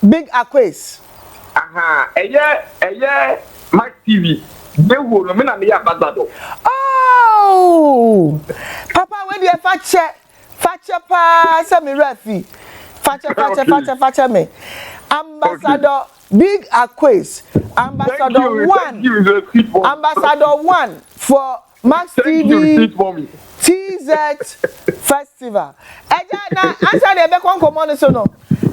Big Aquays. Ahaa ɛyɛ ɛyɛ Mike TV deɛ huo no me na meyɛ ambassador. Ooh papa wei deɛ fakyɛ fakyɛ paa sɛ me werɛ afi fakyɛ fakyɛ fakyɛ fakyɛ me ambassador Big Aquays ambassador one ambassador one for Max TV TZ Festival. Agya, na ansa na yɛbɛkɔ nkɔmmɔ no so no,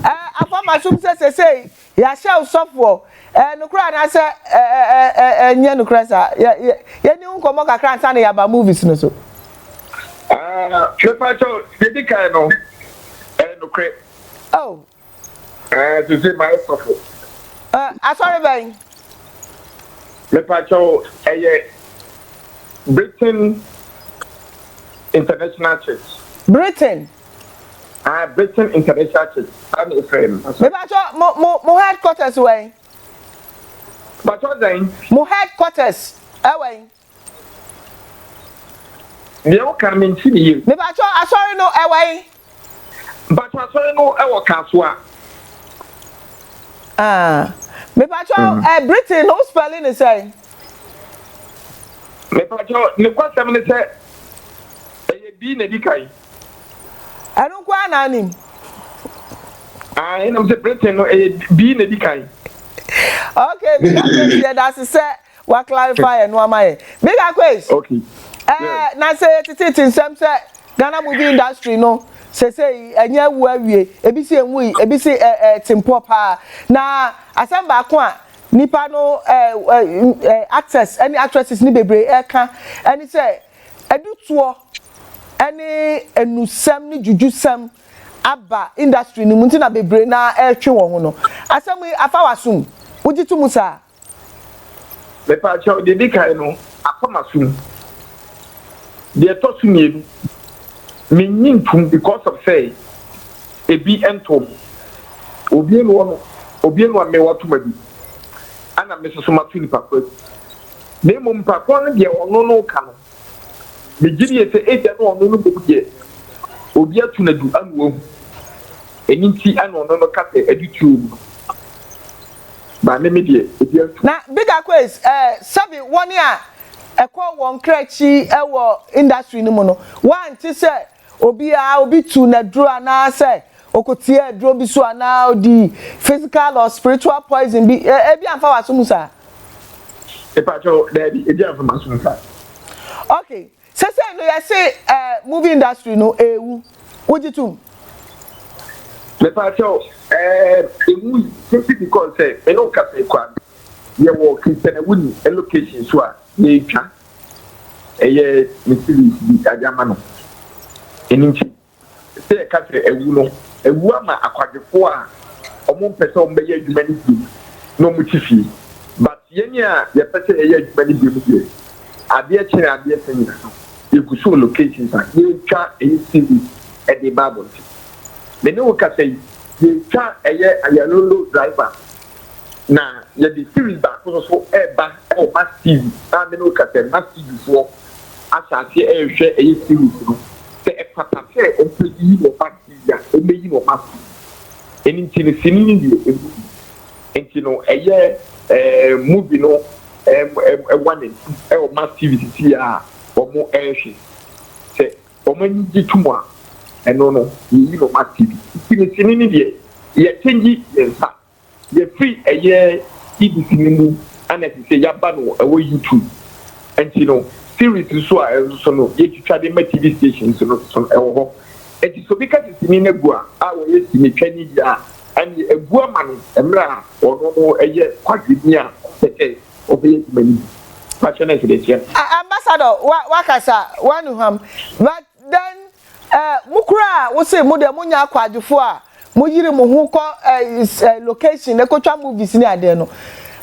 eh, afa m'asom sɛ sesei yɛahyɛ wo sɔfoɔ. Eh, nokorɛ anaasɛ eh, eh, eh, eh, eh, nyɛ nokorɛ saa? Yɛ, yɛ, yɛni wo nkɔmmɔ kakra ansa na yɛaba movies no so. Ah, mepa kyɛw, deɛ di kan no, ɛyɛ nokorɛ. Oh, Ɛɛ sese mayɛ sɔfo. Ɛ asɔre bɛn? Mepakyɛw ɛyɛ Britain International Church. Britain. Aa Britain International Church saa na efrɛ no asɔre. Mepakyɛw mo mo mo headquarters wɛn? Mepakyɛw dɛn? Mo headquarters ɛwɛn? Deɛ wo ka me nte ne yam. Me pakyɛ asɔre no ɛwɔ he? Mpakyɛ asɔre no ɛwɔ kasoa. Ah me pakyɛ eh Britain no wo spɛli ne sɛn? Me pakyɛ ne kɔ sɛm ne sɛ ɛyɛ B na edi kan. Ɛno nko ara na nim. Ahe na me se Britain no ɛyɛ B na edi kan. Okay me pakyɛ nti yɛdase sɛ Wa clarify ɛno ama yɛ. Big Aquays. Okay. Ɛɛ eh, yes. na sɛ yɛtetete nsɛm sɛ Ghana movie industry no sesei ɛnyɛ awu awie ebi si enwui ebi si ɛɛ ɛɛ tempɔ paa na asɛm baako a nipa no ɛɛ ɛɛ actors ɛne actresses ne bebree ɛka ɛne sɛ ɛdutoɔ ɛne enusɛm ne jujusɛm aba industry no mu nti na bebree na ɛretwe wɔn ho no asɛm yi afa wasum wogye to mu saa. Mepakyɛw, deɛ ɛdi kan no, akɔ m'asom. Deɛ ɛtɔ so mmienu, mennye ntom because of sɛ ebi ntoo me. Obue no ano, obue no amee wato m'adu, ɛna me nso so mato nipa korɔ adu. Na mmom nipa korɔ no deɛ ɔno no reka no, Megye die sɛ ebia na ɔno no mmom deɛ obi ato no adu ama wahu. Ɛno nti na ɔno no ka sɛ adu turo mu no. Ba me me deɛ obi antu. Na bigger quiz eh sɛbi wɔn a ɛkɔ wɔn kra akyi wɔ industry no mu no wɔante sɛ Obi a obi tuu no aduro anaa sɛ ɔkɔtiee aduro bi so anaa ɔdii physical or spiritual poison bi, ebi amfa w'aso mu saa? Mepakyɛw, daabi, ebi amfa m'aso mu saa. Ok, sesei no yɛse eh, movie industry no ɛrewu, wogye tom? Mepakyɛw, eh, ɛwui simply because sɛ me ne wo kasa yi koraa no, yɛwɔ Christiana Wuni location so a yɛretwa. ɛyɛ ne series bi yɛade ama no. Ɛno nti sɛ yɛka sɛ awu no, awu ama akwadwofoɔ a wɔn mpɛ sɛ wɔn bɛyɛ adwuma no bio na wɔn te fie. But yɛn a yɛpɛ sɛ yɛyɛ adwuma no bio no deɛ, adeɛ kyɛn adeɛ sɛ nyina so, yɛgu so wɔ locations a yɛtwa ɛyɛ series de ba abɔnten. Me ne wo kasa yi, yɛtwa ɛyɛ Ayalolo driver. Na yɛde series baako no so reba wɔ Mass TV a me ne wo kasa yi, Mass TV foɔ ahyɛ aseɛ rehwɛ ɛyɛ series no. Sɛ ɛfata sɛ wɔbɛyi no wɔ Mass TV a, wɔbɛyi no wɔ Mass TV. Ɛno nti no sini no deɛ ɛmu bi. Nti no ɛyɛ ɛɛ movie no ɛm ɛm ɛwa n'akyi wɔ Mass TV sisi a wɔrehwɛ. Sɛ Wɔn ani gye to mu a, ɛno no, yeyi no ase bi. Nsinsinni no deɛ, yɛkyengye yɛn nsa. Yɛfiri ɛyɛ Ibis no mu na ɛsɛ sɛ yɛaba no wɔ YouTube. Enti no, series nso a ɛno nso no, yɛtwitwa de ma TV stations no nso no, ɛwɔ hɔ. Enti sɛ obi ka sɛ sini no agu a, a ɔyɛ sinitwani deɛ a, ɛnneɛ agu ama no mmerɛ a ɔno no yɛ kwadwoni a ɔpɛ sɛ Ambassador wakasa wanuham but then mo koraa a wose mo deɛ mo nyɛ akwaadwofoɔ a mo yiri mo ho kɔ location ne kotwa movies ne adeɛ no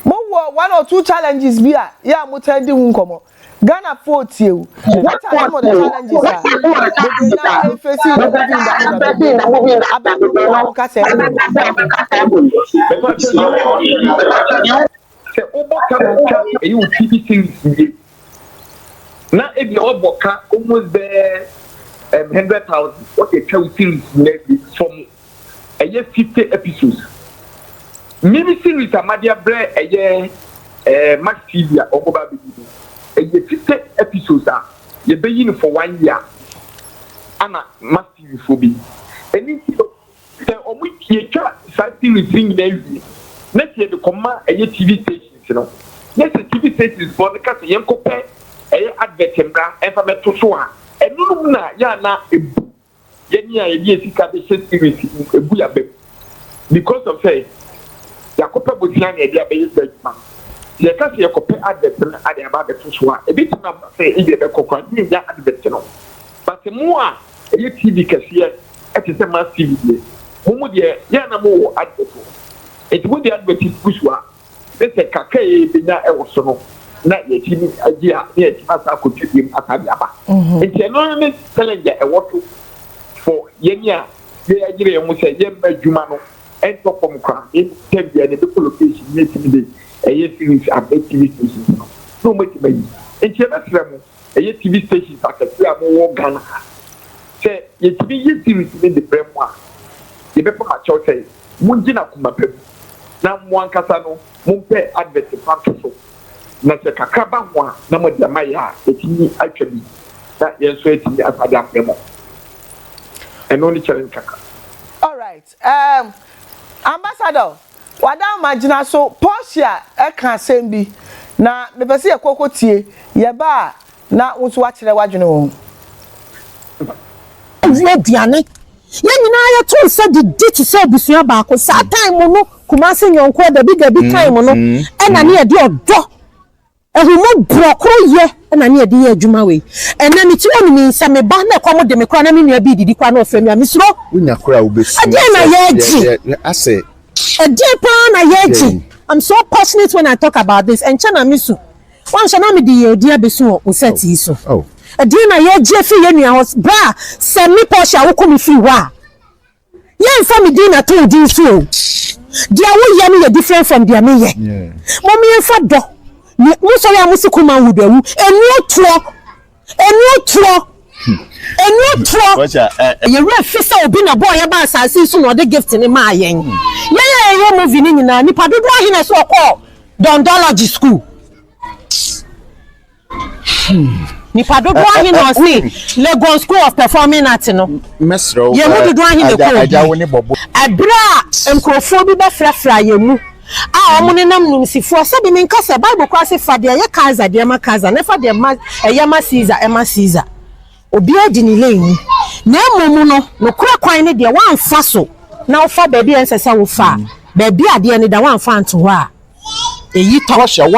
mo wɔ one or two challenges bi a yɛ a mo taa di ho nkɔmɔ Ghana foɔ tie o what are some of the challenges a mo deɛ na ɛfesi in the movie industry na bɛbɛ no abɛn no mo a mo kasa ɛbɔ mu no. Sɛ wobɔ ka na atwa ɛyɛ wo TV series wie na ebia wabɔ ka almost bɛɛ um, hundred thousand wɔde atwa wo series nyinaa wie fam ɛyɛ fifty episodes mini series amade abrɛ ɛyɛ eh, max tv a wɔbɔ ba abɛdi no ɛyɛ fifty episodes a yɛbɛyi no for one year ana max tv foɔ bɛyi ɛni nti no Sɛ ɔmo yɛtwa saa series no nyinaa wie na sɛ yɛde kɔma ɛyɛ TV stations no na sɛ TV stations foɔ no ka sɛ yɛnkɔ pɛ ɛyɛ advert mmra ɛmfa mmɛto so a ɛno nom na yɛ a na ɛbu yɛne a yɛde yɛ sika de hyɛ series no mu ɛbu yɛ aba mu because of sɛ yɛakɔ pɛ bosea na yɛde abɛyɛ saa adwuma no sɛ yɛka sɛ yɛkɔ pɛ advert no ade aba abɛto so a ɛbɛtumi aba sɛ ebi ɛbɛkɔ koraa na yɛnya advert no but mo a ɛyɛ TV kɛseɛ Ɛte sɛ mass TV deɛ. Mo mu deɛ yɛ a na mo wɔ advert wɔ hɔ. Nti mo de advert gu so a, ne sɛ kakra a yɛ bɛnya wɔ so no na yɛ tumi gye a, na yɛ tumi asan akɔ twa biom asan de aba. Nti ɛno ne challenge a ɛwɔ so for yɛn a yɛ ayere yɛn ho sɛ yɛ mma adwuma no ntɔ fam koraa na mmom time biara no ɛbɛkɔ location na yɛ tumi de ɛyɛ series aba TV stations no na wɔn atumi ayi. Nti yɛ bɛsrɛ mo. ɛyɛ TV stations akɛseɛ a mo wɔ Ghana ha. Sɛ yɛtumi yɛ series no de brɛ mo a, yɛbɛpa mo akyɛw sɛ mongye no akoma pa mu na mo ankasa no mo mpɛ advert mfa nto so. Na sɛ kakra ba ho a na mode ama yɛn a yɛatumi atwa bi na yɛn nso yɛatumi asa de abrɛ mo. Ɛno ne challenge kakra. Alright. Erm Ambassador, w'adamma gyina so, Portia ɛka asɛm bi na mepɛ sɛ yɛkɔ kɔ tie, yɛba a na wo nso w'akyerɛ w'adwene wɔ ho. Yɛwie aduane, yɛn nyinaa yɛto nsa didi te sɛ abusua baako, saa time no Kumasi Nyɔnkoɔ dabi dabi time no ɛna ne yɛde ɔdɔ. Ahummɔborɔ koro yɛ na ne yɛde yɛ adwuma wei ɛnɛ me tiri ɔne me sɛ me ba na ɛkɔm de me koraa na me nua bi redidi koraa na ɔfrɛ me a me suro ɛdeɛn na yɛregye ɛdeɛn paa na yɛregye I'm so passionate when I talk about this ɛnkyɛ na me su wanhyɛ na me de yɛ odi abesu wɔ wo set yi so ɛdeɛn na yɛregye afiri yɛn nua hɔ bra sɛ me Portia woko me firi hɔ a. Yɛnfa me din na to wo din so o, deɛ wo yɛ no yɛ different from deɛ me yɛ, mom yɛnfa dɔ ne mo sɔre a mo se Kuman would awu, ɛnuo toɔ, ɛnuo toɔ, ɛnuo toɔ. Yɛ werɛ fi sɛ obi na bɔɔ yɛ baa asaase yi so na ɔde gift no maa yɛn. Yɛn a yɛyɛ movie no nyinaa, nipa dodoɔ ahe na ɛsɛ ɔkɔɔ Dɔndɔlɔgy school? Nipa dodoɔ ahe na ɔse Legon School of Performing Art no? Yɛn mu dodoɔ ahe na ɛkɔɔ bi? Ɛberɛ a nkurɔfoɔ bi bɛfrafraa yɛn mu a wɔn nenam nimsifoɔ sɛdeɛ menka sɛ Bible koraa se fa deɛ ɛyɛ Kaesar deɛ ma Kaesar na fa deɛ ma ɛyɛ ma Caesar ɛma Caesar. Obiara di ne lane mu na mmom no nokorɛ kwan ne deɛ woamfa so na wofa baabi a ɛnsɛ sɛ wofa a baabi a adeɛ no da woamfa anto hɔ a ɛyi tɔ.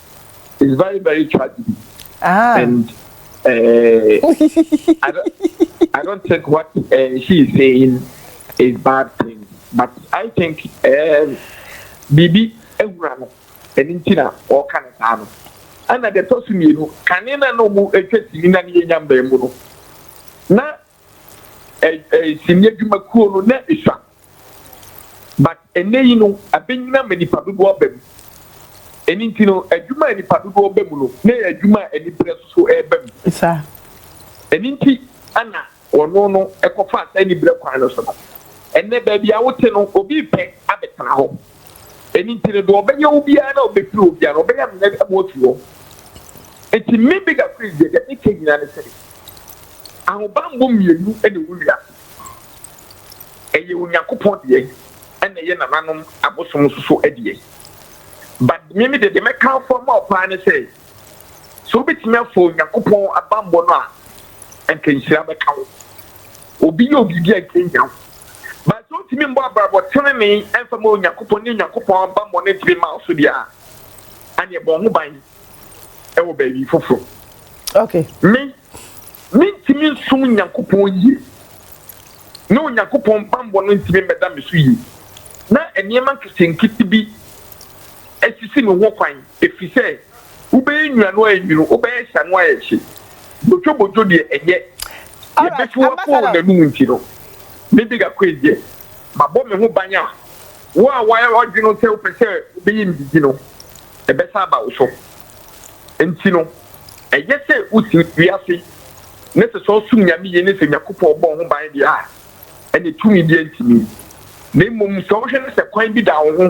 it's very very tragedy. Ah. And uh, I, don't, I don't think what uh, she is saying is bad thing, but I think um, Bibi ehura no ɛni nti na ɔka ne saa no ɛna deɛ ɛtɔ so mmienu kane na na ɔmo atwa sini na ne yɛ nya mbɛn mu no na ɛ ɛ sini adwumakuo no na esua But ɛnnɛ yi no abɛnyina ma nipa dodoɔ aba mu. Ɛno nti no adwuma a nipa dodoɔ ba mu no na ɛyɛ adwuma a anibrɛ nso so ɛreba mu. Ɛno nti na wɔno no kɔfaa saa anibrɛ kwan no so no. Ɛnnɛ baabi a wote no obi repɛ abɛtena hɔ. Ɛno nti no deɛ ɔbɛyɛ wo biara na ɔbɛfiri hɔ biara no ɔbɛyɛ amena ama wafiri hɔ. Nti me Bigger Chris deɛ deɛ meka nyinaa ne sɛ ahobanbɔ mmienu na ɛwɔ wiase. ɛyɛ Onyankopɔn deɛ ɛna ɛyɛ nananom abosom nso so deɛ. But me me deɛ deɛ mɛkamfo ama wo paa ne sɛ, sɛ wobɛtumi afa Onyankopɔn abanbɔ no a, anka nhyira bɛka wo. Obi yɛ wo biribi a nka ɛnhia wo. But sɛ wontumi mbɔ abrabɔ tenenee ɛmfa ma Onyankopɔn ne Onyankopɔn abanbɔ no ntumi mma wo so deɛ a, ɛneɛ bɔ wo ho ban. ɛwɔ baabi foforɔ. Okay. Me, mentumi nsom Nyankopɔn yie na Onyankopɔn bammɔ no ntumi mmɛda me so yie na nneɛma nketenkete bi asisi me ho kwan ɛfiri sɛ wobɛyɛ nnuano a ɛnwunu wobɛyɛ hyano a ɛhye bodwobodwo deɛ ɛnyɛ yɛbɛfi wakɔɔ n'anum nti no ne de gakɔ ɛdeɛ mabɔ me ho ban a wo a woayɛ wadwene sɛ wopɛ sɛ wobɛyɛ ndidi no ɛbɛsan aba wo so. Enti no, ɛyɛ sɛ wusi wiase ne sesɔw som nyame yiye ne sɛ Onyankopɔn bɔɔ ho ban de a, ɛnde tumi biara ntumi. Na mmom sɛ wohwɛ na sɛ kwan bi da wo ho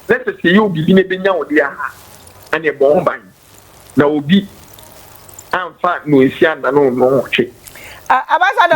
na sɛ sɛ Yob bi na ebenya wo de a, ɛnde bɔ ho ban na obi amfa nnɔnsia nnanonoo ho twe. Ambassador